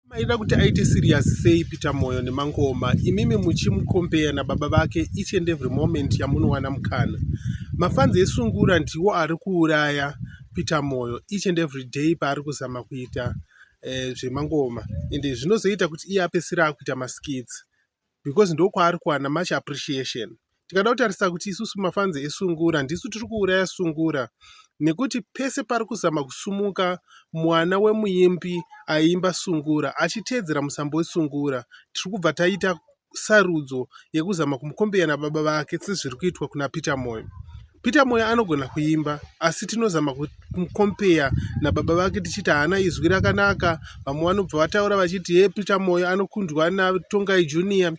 maida kuti aite serious sei peter moyo nemangoma imimi muchimukombeya nababa vake each and every moment yamunowana mukana mafanzi esungura ndiwo ari kuuraya peter moyo each and every day paari kuzama kuita eh, zvemangoma ende zvinozoita kuti iye apesira akuita maskits because ndokwaari kuwana much appreciation tikada kutarisa kuti isusu mafanzi esungura ndisu tiri kuuraya sungura nekuti pese pari kuzama kusumuka mwana wemuimbi aiimba sungura achiteedzera musambo wesungura tiri kubva taita sarudzo yekuzama kumukombeya nababa vake sezviri kuitwa kuna peter moyo Peter Moyo anogona kuimba asi tinozama kumukompeya nababa vake tichiti haana izwi rakanaka. Vamwe vanobva vataura vachiti ye Peter Moyo anokundwa naTongai Junior.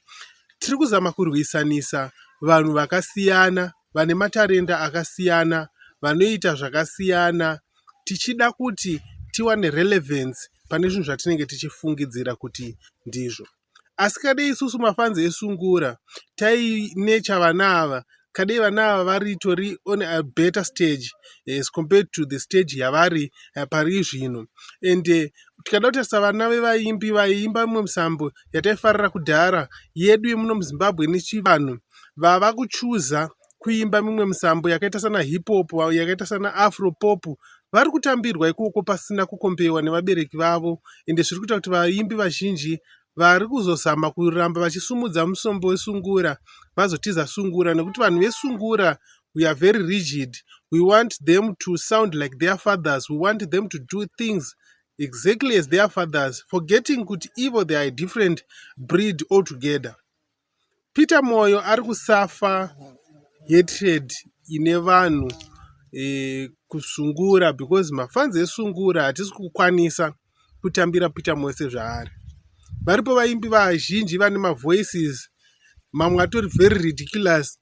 Tiri kuzama kurwisanisa vanhu vakasiyana vane matarenda akasiyana vanoita zvakasiyana tichida kuti tiwane relevance pane zvinhu zvatinenge tichifungidzira kuti ndizvo. asi kadei isusu mafans esungura tainecha vana ava kadei vana ava varitori on a better stage as compared to the stage yavari eh, pari zvino and eh, tikada kutarisa vana vevaimbi vaiimba mimwe misambo yataifarira kudhara yedu yemuno muzimbabwe nechivanhu vava kuchuza kuimba mimwe misambo yakaita sana hip hop yakaita sana afro pop vari kutambirwa ikoko pasina kukombewa nevabereki vavo ende zviri kuita kuti vaimbi vazhinji vari kuzozama kuramba vachisumudza musombo wesungura vazotiza sungura nekuti vanhu vesungura we are very rigid we want them to sound like their fathers we want them to do things exactly as their fathers forgetting kuti ivo they are a different breed altogether Peter Moyo ari kusafa hatred ine vanhu eh, kusungura because mafanzi esungura hatisi kukwanisa kutambira Peter Moyo sezvaari. Varipo vaimbi vazhinji vane mavoices mamwe atori very ridiculous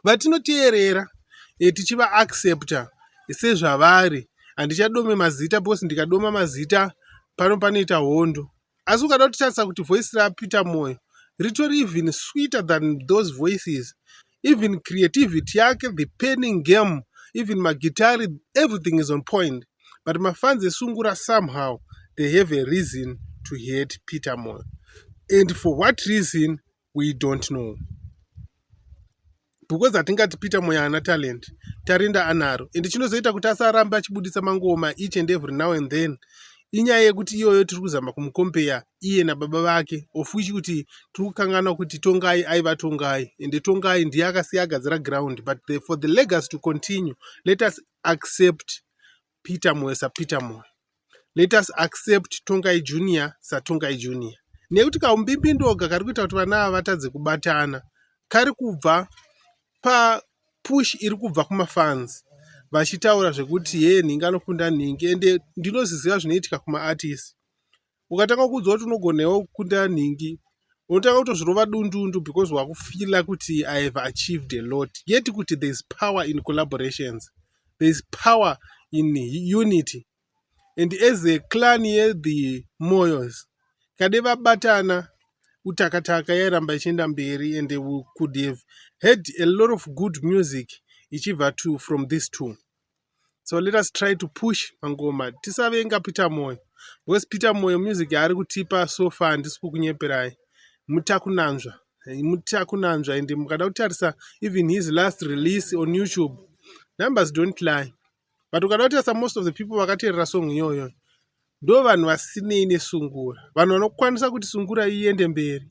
vatinoteerera eh, tichiva accepta sezvavari handichadome mazita because ndikadoma mazita pano panoita hondo asi ukada kutitarisa kuti voice rapeter moyo ritori even sweeter than those voices even creativity yake the penning game even magitari everything is on point but mafans esungura somehow they have a reason to hate peter moyo and for what reason we don't know because hatingati peter moyo haana talent tarenda anaro and chinozoita kuti asaramba achibudisa mangoma each and every now and then inyaya yekuti iyoyo tiri kuzama kumukompeya iye nababa vake of which kuti tiri kukanganwa kuti tongai aiva tongai ende tongai ndiye akasiya agadzira ground but the, for the legacy to continue let us accept Peter Moyo saPeter Moyo. Let us accept Tongai Junior saTongai Junior. Nekuti kaumbimbindoga kari kuita kuti vana ava vatadze kubatana kari kubva pa push iri kubva kumafans vachitaura zvekuti hee nhingi anokunda nhingi ende ndinoziziva zvinoitika kumaartist ukatanga kuudzwa kuti unogona iwe kukunda nhingi unotanga kutozvirova dundundu because wakufila kuti i have achieved a lot yet kuti there is power in collaborations there is power in unity and as a clan yethe moyos kade vabatana utakataka yairamba ichienda mberi and we could have heard a lot of good music ichibva to from this two so let us try to push mangoma tisavenga peter moyo because peter moyo music yaari kutipa so far handisi kukunyeperai mutakunanzva mutakunanzva and mukada kutarisa even his last release on youtube numbers don't lie but ukada kutarisa most of the people vakateerera song iyoyo ndo vanhu vasinei nesungura vanhu vanokwanisa kuti sungura iende mberi